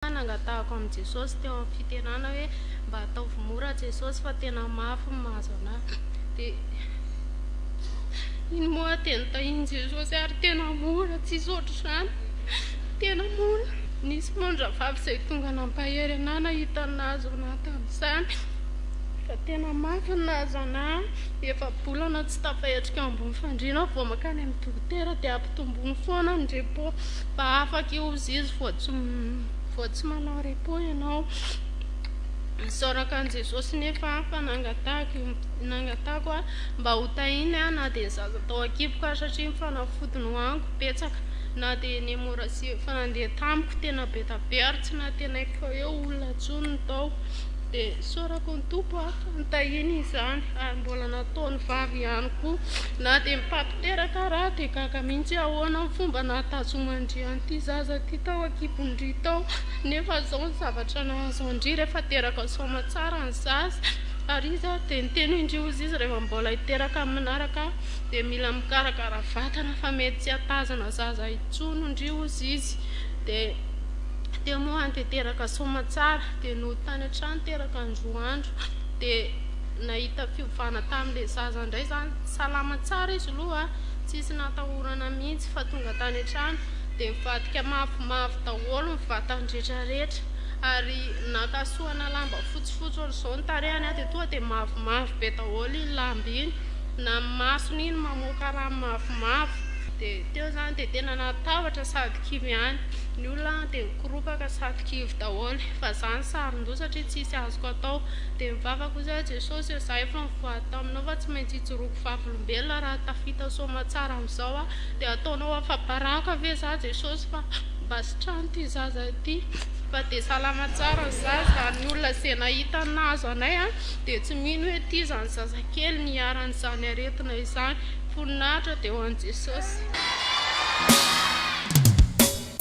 Fa nangatahako amin'i Jesosy teo amin'ny fitenana hoe mba ataovy mora Jesosy fa tena mafy ny mahazo anà. Dia iny moa dia notahian'i Jesosy ahy ry tena mora, tsisy ohatr'izany, tena mora. Nisy moa ny rahavavy izay tonga nampahery anà nahita ny nahazo anà tamin'izany fa tena mafy ny nahazo anà. Efa-bolana tsy tafahetrika eo ambony fandriana aho vao mankany amin'ny dokotera dia ampitomboiny foana ny repos. Mba afaka ihozizy vao tsy manao repos ianao. Isaorako an'i Jesosy nefa fa nangatahako aho mba ho tahiny aho na dia ny zaza tao an-kiboko ary satria ny fanafody nohaniko betsaka na dia ny hemorragie efa nandeha tamiko tena be da be ary tsy nantenaiko fa eo olona intsony no tao dia isaorako ny Tompo aho fa nitahiny izany ary mbola nataony vavy ihany koa na dia ny pape Teraka raha dia gaga mihitsy aho ahoana ny fomba nahatazoman-dry an'ity zaza ity tao an-kibon-dry tao nefa izao ny zavatra nahazo an-dry rehefa teraka soamatsara ny zaza ary izy ary dia niteny indry hozy izy rehefa mbola hiteraka ny manaraka dia mila mikarakara vatana fa mety tsy hatazana zaza intsony ndry hozy izy dia teo moa any dia teraka soamatsara dia nody tany an-trano teraka ny roa andro dia nahita fiovana tamin'ilay zaza indray izany Salama tsara izy aloha a, tsisy natahorana mihitsy fa tonga tany an-trano dia nivadika mavomavo daholo ny vatany rehetrarehetra ary naka soana lamba fotsifotsy ohatr'izao ny tarehiny a, dia tonga dia mavomavo be daholo iny lamba iny, na ny masony iny mamoaka rano mavomavo, dia teo izany dia tena natahotra sady kivy ihany, ny olona dia nikoropaka sady kivy daholo, fa izaho nisaron-doha satria tsisy azoko atao, dia nivavaka hoy izaho Jesosy ô, izaho efa nivoa. taminao fa tsy maintsy hijoroako vavolombelona raha tafita soamatsara amin'izao aho, dia hataonao afa-baraka ve izaho Jesosy fa mba sitrano ity zaza ity fa dia salama tsara ny zaza, ny olona izay nahita ny nahazo anay dia tsy mino hoe ity izany zazakely niharan'izany aretina izany, voninahitra dia ho an'i Jesosy.